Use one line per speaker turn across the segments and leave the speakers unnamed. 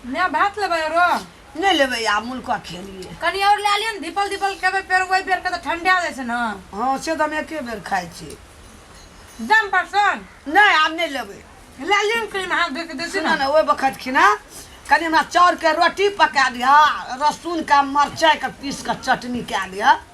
माय भात लेबै रो नहि लेबै आब
मुल्का खेलिए कनी और लए लियौ ने
दीपल दीपल खेबै फेर ओहि बेर के तऽ ठंडा जाइ छै ने हँ से तऽ हम एके
बेर खाइ छी दम
परसन नहि आब नहि
लेबै लए लियौ ने कनी
हाथ धो के देसी सुनऽ ने ने ओहि बखत खिना
कनि हमरा चाउरके रोटी पका दिह लहसुनके मरचाइके पीस कऽ चटनी कए दिह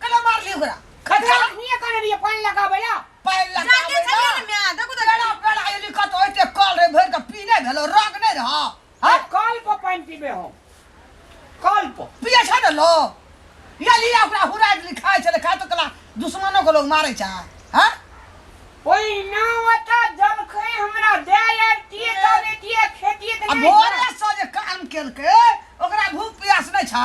कला मार ली ओकरा खटका नहीं करे
लिए पानी लगावे ला पैर लगा जाके
छलिए
ना मैं देखो
तो पेड़ा
पेड़ा ये लिखत
होते कल रे भर के पीने भेलो रग नहीं रहा है कल पर
पानी पीबे हो कल पर पिए छ न लो
या लिया ओकरा हुरा दिली खाए छले खाए तो कला दुश्मनों को लोग मारे छा हैं ओई
ना वता जब खे हमरा दे ले तिए तबे तिए खेती अब भोरे से
जे
काम
केलके ओकरा भूख प्यास नहीं छा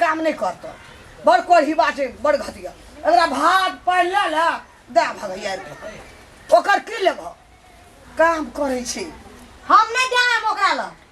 काम नहीं करता बड़ कोई ही बात है बड़ घटिया अगर भात पानि लऽ लऽ दए भगैया ओकर की लेबह काम करै छी हम नहीं
जाएब ओकरा लग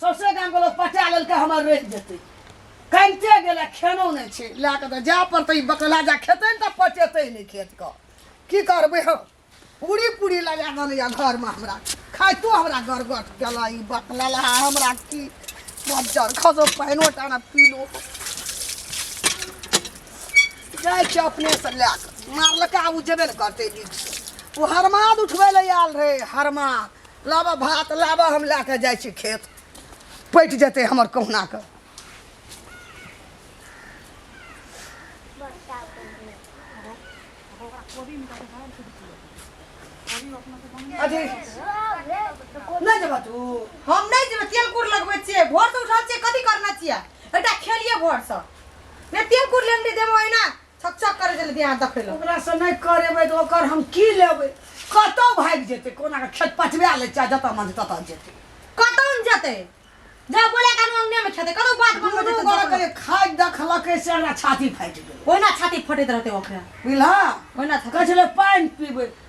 सौसे गामके लोक पचा लेलकै हमर रहि जेतै कनिते गेलै खेनो नहि छै लए कऽ तऽ जाय पड़तै ई बकला जा खेतै ने तऽ पचेतै नहि खेतके की करबै हम पूरी पूरी लगा देने यऽ घरमे हमरा खाइतो हमरा गरगट केला ई बकला लहा हमरा की मज्जर खसो पानिओ टाना पी लो जाइ छै अपनेसँ लए कऽ मारलका ओ जेबे ने करतै बीचसँ ओ हरमाद उठबै लए आयल रहै हरमाद लाबऽ भात लाबऽ हम लए कऽ जाइ छी खेत पटि जेतै हमर कहुनाके अथी नहि जेबह तू हम नहि जेबै
तेल कुर लगबै छियै भोरसँ उठल छियै कथी करना छियै एकटा खेलियै भोरसँ नहि तेल कुर लेने देबो एना छक छक करे चले दिया देखे ला ओकरा से नहीं करेबे
तो ओकर हम की लेबे कतौ भाग जेते कोना के खेत पटवा ले चाहे जतऽ मन ततऽ जेते कतौ न जते
जा बोले कान अंगने में खेते कतौ बात बोल कोनो जते गोरा के खाद
दखलके से हमरा छाती फाटि गेल ओना छाती फटेत रहते
ओकरा बुझला ओना
छाती कहे
छलै पानि
पीबै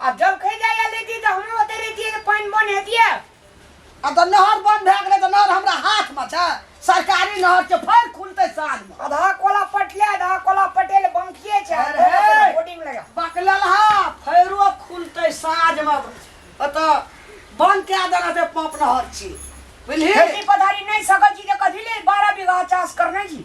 आ जब कहि जाइए लेती तऽ हमहूँ ओतहि रहितियै जे पानि बन्द हेतियै आ तऽ
नहर बन्द भए गेलै तऽ नहर हमरा हाथमे छै सरकारी नहर छै फेर खुलतै साँझमे आधा कोला पटले
आधा कोला पटेल बंकिए छै आ अरे! कोला पर बोर्डिंग लगा बकललहा
फेरो खुलतै साँझमे ओतऽ बन्द कए देना छै पाँप नहर छी बुझलिही खेती पथारी नहि
सकैत छी तऽ कथी ले बारह बीघा चाष करने छी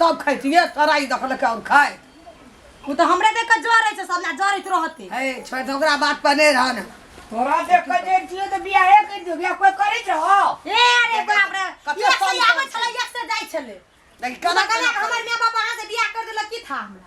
तब खैतिए तराई देखलकै आओर खाइत उ त
हमरे देख के जरे छै सब ना जरैत रहते हे छोड़ दे ओकरा
बात पर नहीं रहन तोरा देख के
जे छियो त बियाहे कर दियो बियाह कोई करै छ ए अरे
बाप रे कते एक से साल आबै के छले एक से
जाइ
छले लेकिन कना कना कना
के हमर माय
बाप अहाँ
से
बियाह कर देलक की था हमरा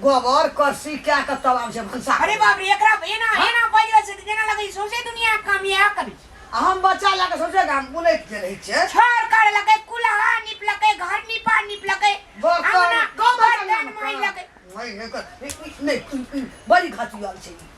गोबर करसी कए कऽ तब आबै छै भनसा अरे बाप रे एकरा
एना हाँ? एना बाजि रहल छै जेना लगै सौंसे दुनिया काम इएह करै छै आ हम बच्चा लए
कऽ सौंसे गाम बुलैत जे रहै छै छर कर लगे
कुलहा निप लगे घर निपा निप लगे बर्तन कम
बर्तन
माइ लगे माइ
लगे बड़ी घटिया छै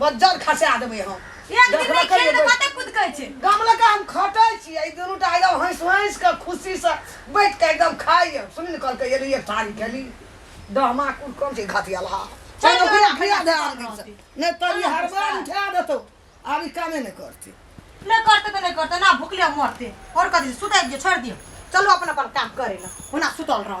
बज्जर खसा देबै हम एक दिन नहि खेल
तऽ कते कुदकै छै गाम लऽ कऽ हम खटै
छी ई दुनू टा एकदम हँसि हँसि कऽ खुशीसँ बैठ कऽ एकदम खाइए सुनि ने कहलकै एली एक थारी खेली डहमा कुल कम छै घातियाला चल ओकरा खिया दे आब दिनसँ। नहि तऽ ई हरबा उठा देतौ आब ई कामे नहि करतै नहि करते तऽ
नहि करते ना भुखले मरते और कथी सुतै दियो छोड़ दियो चलो अपन अपन काम करे ला ओना सुतल रह